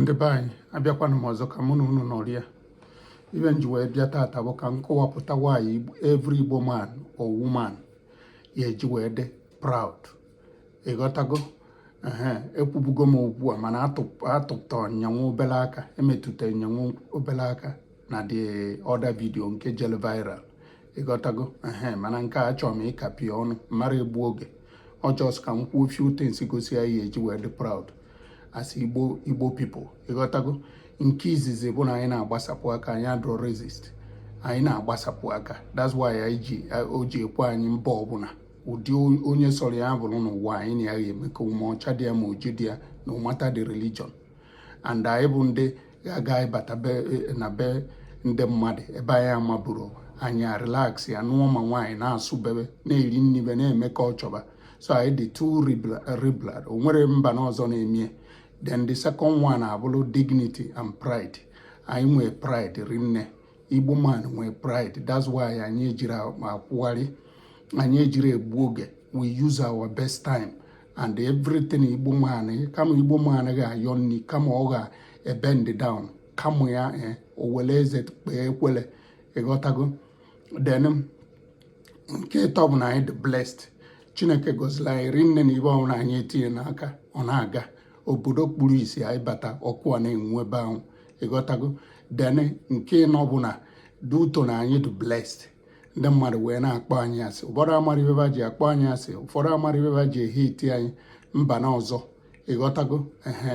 ndị be anyị abịakwanụ m ọzọ ka mụ na unu nọrịa ive m ji wee bịa tata bụ ka m kọwapụta why every Igbo man or woman ya eji wee dị proud ịghọtago ee ekwubugo m okwu a mana atụpụta nyanwụ obele aka emetụta nyanwụ obele aka na the other video nke jelu viral ịghọtago ehe mana nke a achọrọ m ịkapi ọnụ mara egbu oge ọ just ka m kwuo few things gosi ya ihe eji wee dị proud as igbo igbo people ịghọtago nke izizi bụ na anyị na-agbasapụ aka anyị adịrọ racist anyị na-agbasapụ aka that's why anyị ji o ji ekwe anyị mba ọbụla ụdị onye sọrọ ya bụrụ n'ụwa anyị na ya ga-emekọ ma ọcha dị ya ma oji dị ya no matter the religion and anyị bụ ndị ya-aga ịbata e, na be ndị mmadụ ebe anyị amaburo anyị relax ya nụọ ma nwaanyị na-asụ bebe na-eri nni be na-eme ka ọ chọba so anyị dị too liberal o nwere mba na ọzọ na-emie then the second one abụlụ dignity and pride anyị nwee pride rinne igbo man nwee pride that's why anyị ejiri akwụgharị anyị ejiri egbu oge we use our best time and everything igbo man eh, kama igbo man ga-ayọ nni kama ọ ga-ebend down kama ya eh, o wele eze kpee ekwele ịghọtago then nke ịtọ bụ na anyị dị blessed chineke gọziri anyị rinne na ive ọbụla anyị etinye n'aka ọ na-aga obodo kpuru isi anyị bata ọkụ a na-enwu ebe ahụ ịghọtago then nke ịnọ bụ na due to na anyị dị blessed ndị mmadụ wee na-akpọ anyị asị ụfọdụ amara ive va ji akpọ anyị asị ụfọdụ amara ive va ji ehate anyị mba na ọzọ ịghọtago ehe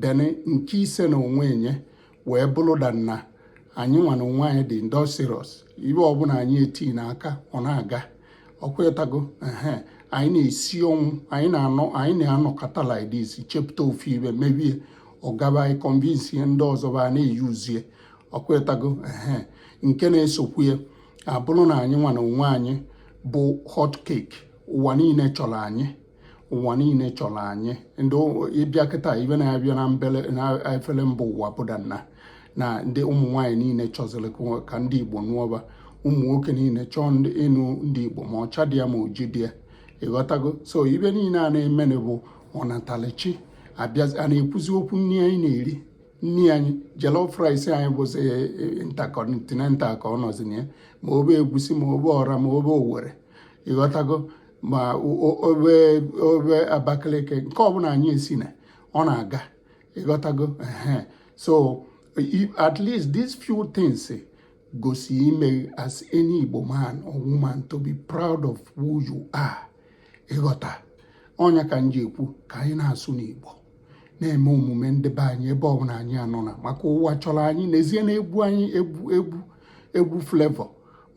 then nke ise na onwe nya wee bụlụ that na anyị nwa na onwe anyị dị industrious ive ọbụla anyị eti n'aka ọ na-aga ọkwetago ehe anyị na-esi ọnwụ anyị na-anọ anyị na-anọkọta like this chepụta ofu ive mebe ya ọ gaba anyị convince ndị ọzọ va na-euse ya ọkwetago ehe nke na-esokwu ya abụlụ na anyị nwa na onwe anyị bụ hot cake ụwa niile chọrọ anyị ụwa niile chọrọ anyị ndị ị bịa kịta ive na-abịa na mbele na efere mba ụwa bụ that na na ndị ụmụ nwaanyị niile chọziri ka ndị Igbo nụọ va ụmụ nwoke niile chọọ ịnụ ndị Igbo ma ọcha dị ya ma oji dị ya ịghọtago so ive niile a na-emenụ bụ ọnatalụchi abịa a na-ekwuzi okwu nni anyị na-eri nni anyị jollof rice anyị bụzi e, e, intercontinental ka ọ nọzi na ya ma ove egwusi ma ove ọra ma ove owere ịghọtago ma ove ove abakaliki nke ọbụla anyị esi na ọ na-aga ịghọtago so at least these few things eh, gosi ime as any Igbo man or woman to be proud of who you are ịghọta ọ nya ka m ji ekwu ka anyị na-asụnụ Igbo na-eme omume ndị be anyị ebe ọbụla anyị nọna maka ụwa chọrọ anyị n'ezie na egwu anyị egwu egwu egwu Flavour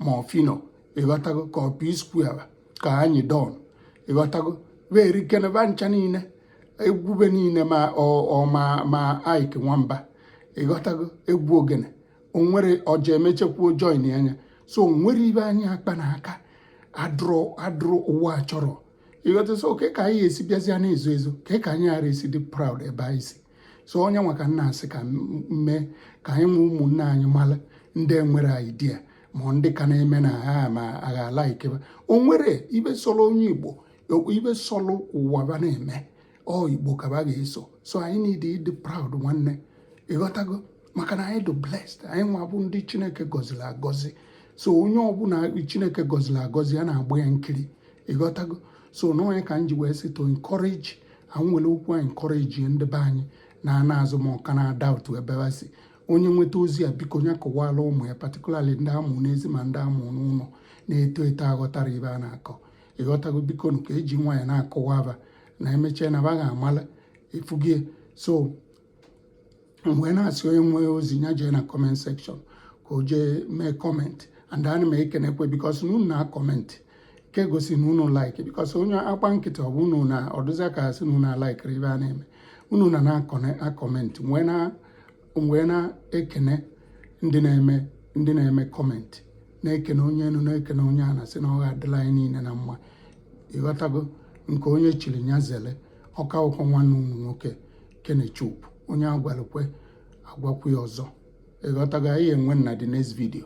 ma ọ Phyno ịghọtago ka ọ P-Square ka Anyidon ịghọtago were kene ba ncha niile egwu ba niile ma ọ ma ma Ejike Nwamba ịghọtago egwu ogene o nwere ọja emechekwuo join na nya so o nwere ibe anyị kpa n'aka adụrụ adụrụ ụwa chọrọ ịghọta so kee ka anyị esi bịazịa na-ezo ezo ka ka anyị ghara esi dị proud ebe anyị si so ọ nya nwa ka m na-asị ka m mee ka anyị nwe ụmụnne anyị mara ndị nwere idea ma ndị ka na-eme na ha ma agha ala ikebe o nwere ibe sọrọ onye Igbo ibe sọrọ ụwa ba na-eme ọ Igbo ka ba ga-eso so anyị need ịdị proud nwanne ịghọtago maka na anyị dị blessed anyị nwa bụ ndị chineke gọziri agọzi so onye ọbụla chineke gọziri agọzi a na-agba ya nkiri ịghọtago so na ọ nya ka m ji wee sị to encourage anyị were okwu a encourage ndị be anyị na ana azụ ma ọka na-ada otu ebe ha si onye nweta ozi a biko onye kọwala ụmụ ya particularly ndị a mụ n'ezi ma ndị a mụ n'ụlọ na-eto eto aghọtarọ ibe a na-akọ ịghọtago biko ka e ji nwayọ na-akọwara ba na emechaa na ba ga-amala efugie so m wee na-asị onye nwee ozi ya jee na comment section ka o jee mee comment and ana m ekenekwa because na unu na-akọmentị nke gosi na unu like because onye agba nkịtị ọ bụ unu na ọ dịzi ka a sị na unu alaikirọ ibe a na-eme unu na na-akọmentị wee na-ekene ndị na-eme ndị na-eme comment na-ekene onye enu na-ekene onye ana asị na ọ ga-adịla anyị niile na mma ịghọtago nke onye chiri nya zele ọ ka bụkwọ nwanne unu nwoke Kenechukwu onye agwalụkwa agwakwu ya ọzọ ịghọtago anyị enwe na the next video